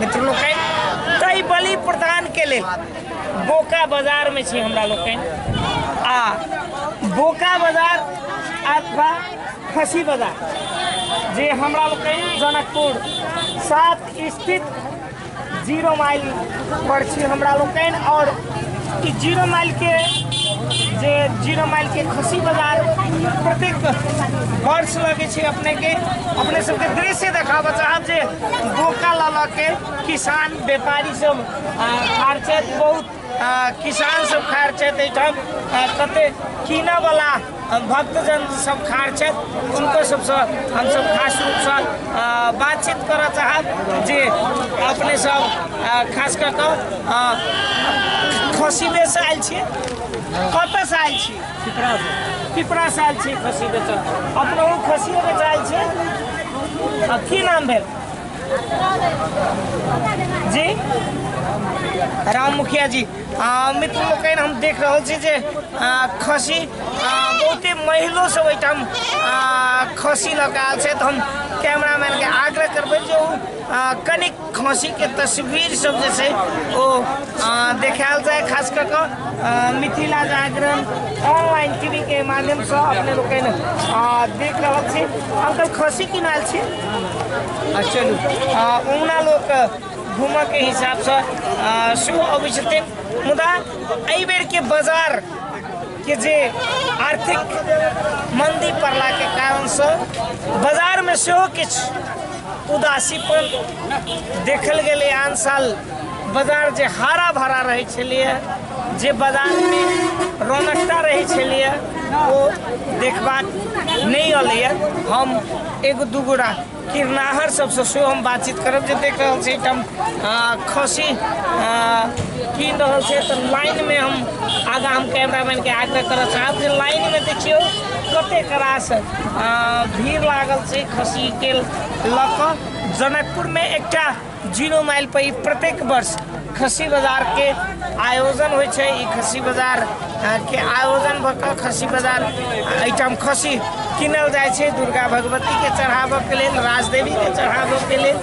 मित्र लोकनि ताहि बलि प्रदान के लेल बोका बाजार में छी हमरा लोकनि आ बोका बाजार अथवा खसी बाजार जे हमरा लोकनि जनकपुर सात स्थित जीरो माइल पर छी हमरा लोकनि और ई जीरो माइल के जे जीरो माइल के खसी बाजार प्रत्येक वर्ष लगे छै अपने के अपने सबके दृश्य देखाबऽ चाहब जे बोका लऽ लऽ के किसान व्यापारी सब आ, खार छथि बहुत आ, किसान सब खार छथि एहिठाम आ, कते कीनऽ वाला भक्तजन सब खाड़ छथि हुनको सबसँ हमसब खास रूपसँ बातचीत करऽ चाहब जे अपने सब खास कऽ कऽ खसीबेसँ आयल छी कतऽसँ आयल छी पिपरासँ आयल छी खसीबेसँ अपनो खसिए बेच आयल छी की नाम भेल जी राम मुखिया जी आ, मित्र लोकनि हम देख रहल छी जे आ, खसी आ, बहुते महिलो सब एहिठाम आ, खसी लऽ कऽ आयल छै तऽ हम कैमरामैन के आग्रह करबै जे ओ आ, कनि खसी के तस्वीर सब जे छै ओ आ, देखायल जाय खास कऽ कऽ आ, मिथिला जागरण ऑनलाइन टीवी के माध्यम से अपने लोकनि आ, देख रहल छी अंकल खसी किनायल छी आ, चलू आ, ओना लोक घूमक हिसाब से सेहो अबै छथिन मुदा एहि बेर के बाजार के जे आर्थिक मंदी पड़ला के कारण से बाजार में सेहो किछु उदासीपन देखल गेलै आन साल बाजार जे हरा भरा रहै छलैए जे बाजारमे रौनकता रहै छलैए ओ देखबाक नहि अयलैए हम एगो दूगो राख किरनाहर सबसँ सेहो हम बातचीत करब जे देख रहल छी एहिठाम खसी कीन रहल छै तऽ लाइनमे हम आगाँ हम कैमरामैनके आग्रह करऽ चाहब जे लाइनमे देखियौ कतेक रास भीड़ लागल छै खसीके लऽ कऽ जनकपुरमे एकटा जीरो माइल पर ई प्रत्येक वर्ष खस्सी बाजार के आयोजन होइ छै ई खस्सी बाजार अ, के आयोजन भऽ कऽ खस्सी बाजार एहिठाम खस्सी कीनल जाइ छै दुर्गा भगवती के चढ़ाबऽ के लेल राजदेवी के चढ़ाबऽ के लेल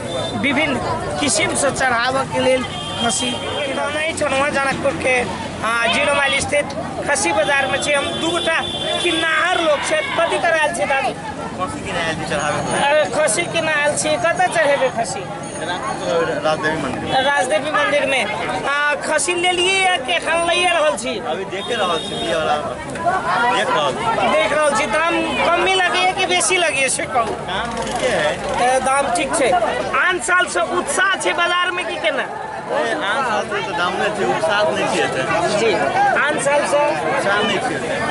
विभिन्न किसिम से चढ़ाबऽ के लेल खस्सी नहि छलहुँ हेँ जनकपुर के अ, जीरो माइल स्थित खस्सी बाजार में छी हम दू गोटा किन्नाहर लोग छै कथी करायल छै दादी खसी केना आयल छी कतऽ चढ़ेबै खसी राजदेवी मंदिर राजदेवी मंदिर में आ, खसी लेलियै या कि एखन लइए रहल छी अभी देखे रहल छी दिया वाला देख रहल छी देख रहल छी दाम कमे लगैए कि बेसी लगैए से कहू काम ठीके है ए, दाम ठीक छै आन सालसँ उत्साह छै बाजारमे कि केना जी आन सालसँ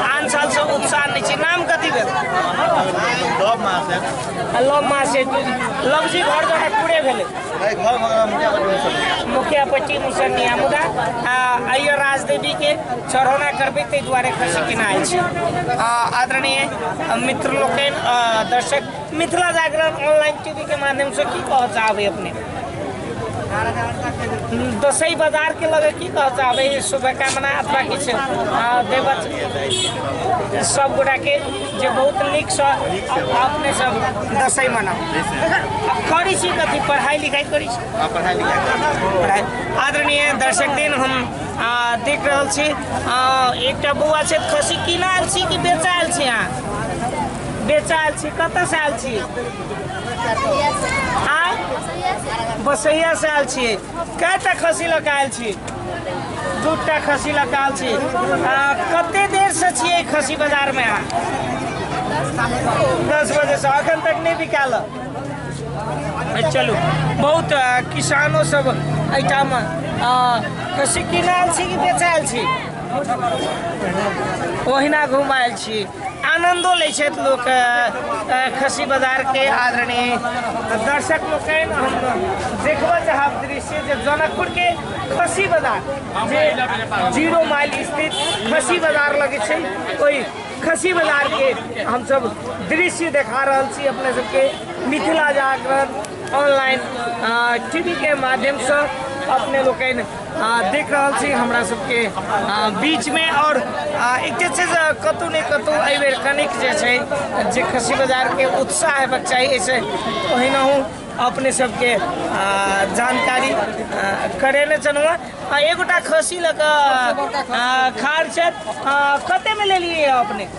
आन सालसँ उत्साह नहि छै नाम कथी भेल लव मास लव जी घर द्वारा पूरे भेलै मुखिया पट्टी मुसनिया मुदा अयो राजदेवी के चढ़ौना करबै ताहि दुआरे खुशी केना अछि आदरणीय मित्र लोकनि दर्शक मिथिला जागरण ऑनलाइन टीवी के माध्यम से की कहऽ चाहबै अपने दसैँ बजारके लगे की कह चाहबै शुभकामना अथवा किछु देव सब गोटाके जे बहुत नीकसँ अपने सब दसैँ मनाउ अब करै छी कथी पढ़ाइ लिखाइ करै छी पढ़ाइ लिखाइ आदरणीय दर्शक दिन हम देख रहल छी एकटा बौआ छै खसी किनायल छी कि बेचायल छी अहाँ बेचायल छी कतऽसँ आयल छी आय बसैया से आयल छियै कएटा खसी लऽ कऽ आयल छी दूटा खसी लऽ कऽ आयल छी आ कते देर से छियै खसी बाजार मे अहाँ दस बजे से अखन तक नहि बिकाल हँ। चलू बहुत आ, किसानो सब एहिठाम आ, खसी किनायल छी कि बेचायल छी ओहिना घुमायल छी आनंदो लै छथि लोक अ, खसी बाजार के आदरणीय दर्शक लोकनि हम देखबऽ चाहब दृश्य जे जनकपुर के खसी बाजार जे जीरो माइल स्थित खसी बाजार लगै छै ओहि खसी बाजार के हमसब दृश्य देखा रहल छी अपने सबके मिथिला जागरण ऑनलाइन टीवी के माध्यम से अपने लोकनि आ, देख रहल छी हमरा सबके आ, बीचमे आओर आ, एकटा छै जे कतहु ने कतहु एहि बेर कनिक जे छै जे खसी बाजारके उत्साह हेबाक चाही एहिसँ ओहिनाहु अपने सबके आ, जानकारी आ, करेने छलहुँ हेँ। आ एगोटा खसी लऽ कऽ आ, खार छथि आ, कतेमे लेलियै अपने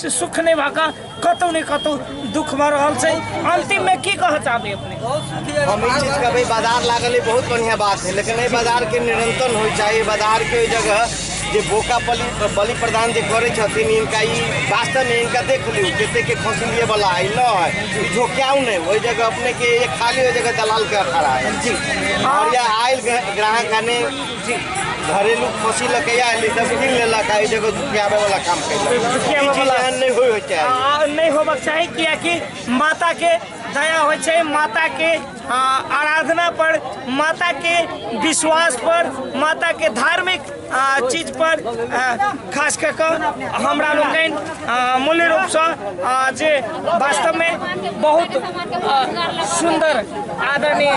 से सुख नहि भऽ कऽ कतहु ने कतहु दुख भऽ रहल छै अन्तिममे की कहऽ चाहबै अपने हम ई चीज कहबै बाजार लागल है बहुत बढ़िया बात है लेकिन एहि बाजार के निरंतर होय चाही बाजार के ओहि जगह जे बोका बलि बलि प्रदान जे करै छथिन इनका ई वास्तव में इनका देख लियौ कते के फसलिए वाला है न है ई झोक्याउ नहीं ओहि जगह अपने के एक खाली ओहि जगह दलाल के खड़ा है जी और यह आयल ग्राहक ने घरेलू फंसी लऽ के आयल ई सब कीन लेलक आ ई देखो दुखियाबे वाला काम कैलक दुखियाबे ई चीज वाला। एहन नहि होय होते आ, नहि होबक चाही कियाकि माता के दया होइ छै माता के आ, आराधना पर माता के विश्वास पर माता के धार्मिक आ, चीज पर आ, खास कऽ कऽ हमरा लोकनि आ, मूल रूपसँ आ, जे वास्तव में बहुत सुंदर आदरणीय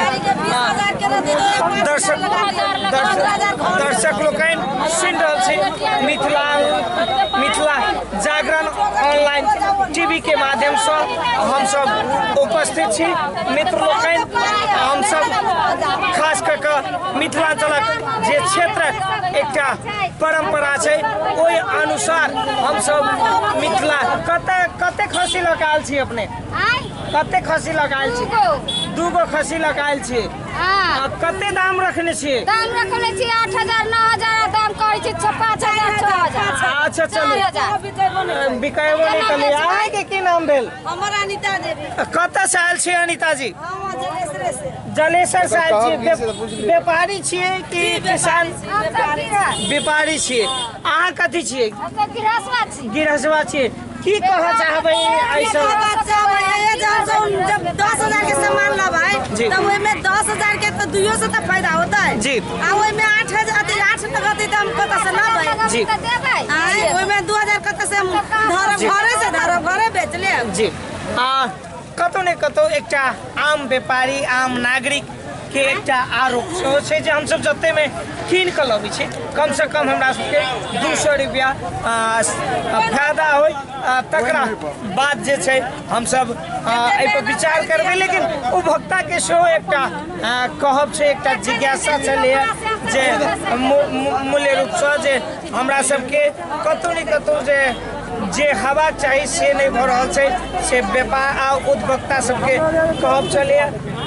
दर्शक दर्शक लोग सुन रहा मिथिला मिथिला जागरण ऑनलाइन टीवी के माध्यम से हम सब उपस्थित छी मित्र लोग हम सब खास कर मिथिलांचल जे क्षेत्र एक परम्परा छै ओहि अनुसार हमसब मिथिला कते कते खसी लगायल छी अपने कते खसी लगायल छी दू गो खसी लगायल छी आ कते दाम रखने छी दाम रखने छी आठ हजार नौ हजार दाम कहै छी छः पाँच हजार छः हजार अच्छा चलू बिकायबो नहि कलियै अहाँके की नाम भेल हमर अनिता देवी कतऽ से आयल छी अनिता जी हम जलेसरे से जलेसर साहब जी व्याप- व्यापारी छियै कि किसान व्यापारी छियै अहाँ कथी छियै गिरहसवा छियै की कहऽ चाहबै ऐसा जब दस हजार के सामान लबाय जी। तब ओहिमे दस हजार के तो दुइयो से तो फायदा होता है जी। आ ओहिमे आठ हजार अथी आठ लगते तो हम कतऽ से लबै जी आँय, ओहिमे दू हजार कतऽ से हम धरब जी। घरे से धरब घरे बेच लेब जी आ कतौ ने कतौ एकटा आम व्यापारी आम नागरिक के एकटा आरोप सेहो छै जे हमसभ जतेमे कीन कऽ लबै छी कमसँ कम हमरा सभके दू सए रुपैआ फायदा होइ आ, तकरा बाद जे छै हमसभ आ, एहिपर विचार करबै लेकिन उपभोक्ताके सेहो एकटा आ, कहब छै एकटा जिज्ञासा छलैए जे मू- मू- मूल्य रूपसँ जे हमरा सबके कतौ ने कतौ जे जे हवा चाही से नहि भऽ रहल छै से व्यापार आ उद्भक्ता सबके कहब छलै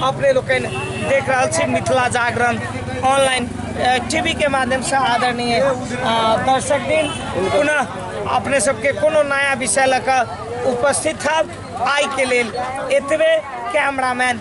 अपने लोकनि देख रहल छी मिथिला जागरण ऑनलाइन टीवी के माध्यम से आदरणीय दर्शक दिन पुनः अपने सबके कोनो नया विषय लऽ कऽ उपस्थित हब आइके लेल एतबे कैमरामैन